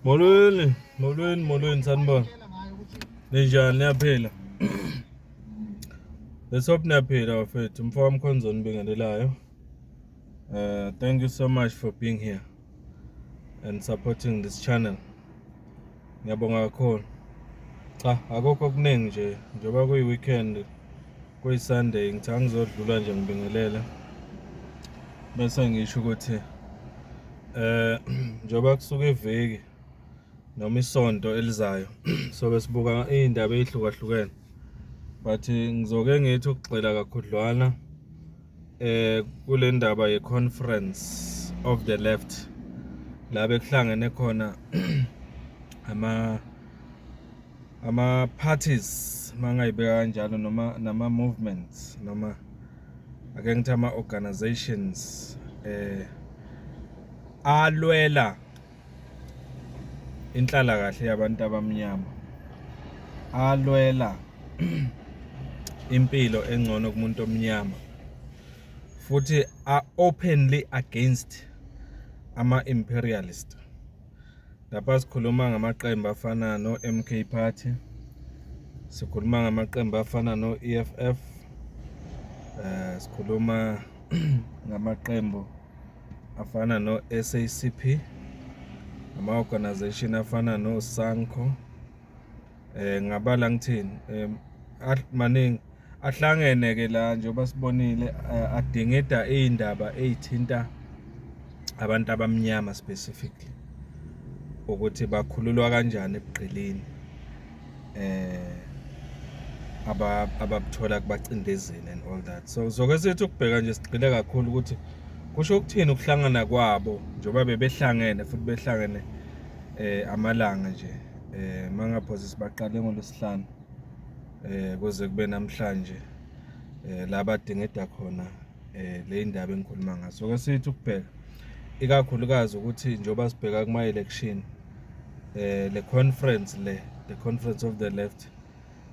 Molweni, molweni, molweni sanibona. Ninjani niyaphila? Let's hope niyaphila bafethu. Mfo wami Khonzo nibingelelayo. Uh thank you so much for being here and supporting this channel. Ngiyabonga kakhulu. Cha, akukho okuningi nje njengoba kuyi weekend. kuyisunday ngithi angizodlula nje ngibingelele bese ngisho ukuthi eh njengoba kusuka iviki noma isonto elizayo sobe sibuka iy'ndaba ey'hlukahlukene but ngizoke ngithi ukugxila kakhudlwana eh kule ndaba ye-conference of the left la bekuhlangene khona ama ama parties mangayibeka kanjalo noma nama movements noma ake ngithi ama organizations eh alwela inhlala kahle yabantu abamnyama alwela impilo engcono kumuntu omnyama futhi are openly against ama imperialist Lapha sikhuluma ngamaqembu afana no-MK Party, sikhuluma ngamaqembu afana no-EFF, eh sikhuluma ngamaqembu afana no-SACP, ama-organization afana no-SANCO, eh ngabala ngithini em maningi ahlangene ke la njengoba sibonile eh, adingida izindaba ezithinta abantu abamnyama specifically ukuthi bakhululwa kanjani ebugqilini eh ababuthola kubacindezeli and all that so zokwesethu ukubheka nje sigxile kakhulu ukuthi kusho ukuthini ukuhlangana kwabo njengoba bebehlangene futhi behlangene eh amalanga nje eh mangaphosisi baqale ngolwesihlanu eh kuze kube namhlanje eh la badingida khona eh le indaba engikhuluma ngayo so kwesithi ukubheka ikakhulukazi ukuthi njengoba sibheka kuma election eh le conference le the conference of the left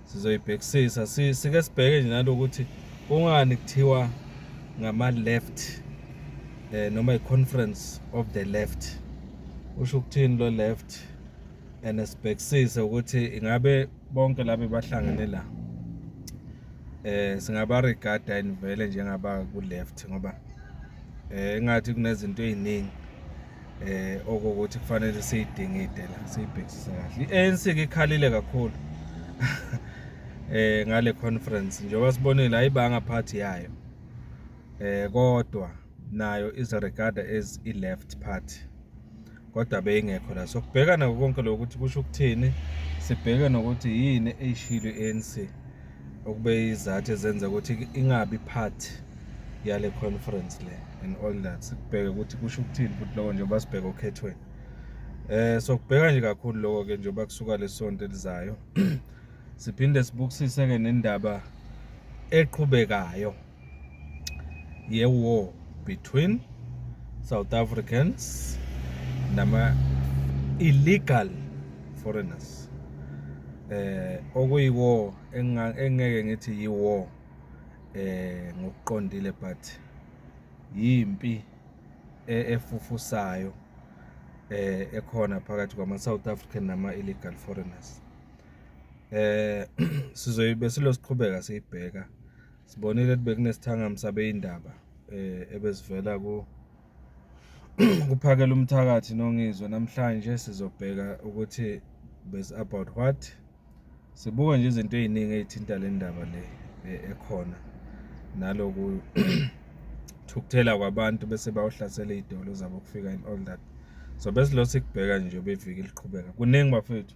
sizoyibhekisisa sike sibheke nje nalokuthi kungani kuthiwa ngama left eh noma iconference of the left usho ukuthini lo left and sibhekisise ukuthi ingabe bonke labe bahlangene la eh singaba regarda inivele njengaba ku left ngoba eh ngathi kunezinto eziningi eh okukuthi kufanele siyidingide la siyibhekisise kahle i-ANC ke ikhalile kakhulu eh ngale conference njengoba sibonile ayibanga party yayo eh kodwa nayo is regard as i left party kodwa beyingekho la so kubhekana konke lokho ukuthi kusho ukuthini sibheke nokuthi yini eyishilo i-ANC okube izathu ezenza ukuthi ingabi part yale conference le and all that sikubheke ukuthi kusho ukuthini futhi lokho njengoba sibheke okhethweni eh so kubheka nje kakhulu lokho ke njengoba kusuka lesonto elizayo siphinde sibukisise ke nendaba eqhubekayo ye-war between South Africans nama illegal foreigners eh okuyiwo engeke ngithi yiwo eh ngokuqondile but yimpi e, efufusayo eh ekhona phakathi kwama South African nama illegal foreigners eh sizoyibe silosiqhubeka siyibheka Sibonile ukuthi bekunesithangami sabeyindaba eh ebesivela ku kuphakela umthakathi nongizwe namhlanje sizobheka ukuthi bes about what sibuka nje izinto eziningi ezithinta le ndaba le eh, ekhona naloku thukuthela kwabantu bese bawuhlasela izidolo zabo kufika in all that so besilose kubheka nje beviki liqhubeka kuningi bafethu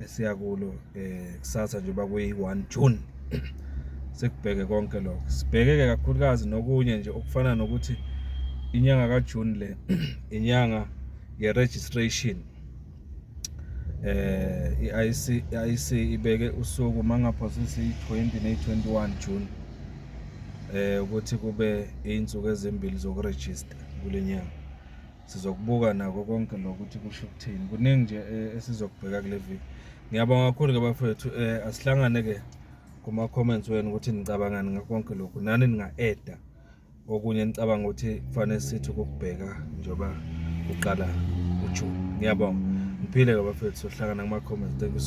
esiya kulo um kusasa njengoba kuyi-one june sekubheke konke lokho sibhekeke kakhulukazi nokunye nje okufana nokuthi inyanga kajuni le inyanga ye-registration eh i-IC i-IC ibeke usuku mangaphosisi i-20 ne-21 June eh ukuthi kube insuku ezimbili zokuregister kulenyanga sizokubuka nako konke lokuthi kusho ukuthini kuningi nje eh, esizokubheka kule viki ngiyabonga kakhulu ke bafethu eh asihlangane ke kuma comments wenu ukuthi nicabangani ngakho konke lokhu nani ninga edda okunye nicabanga ukuthi kufanele sithi ukubheka njoba uqala uJune ngiyabonga ngiphile ke bafethu sohlangana kuma comments thank you so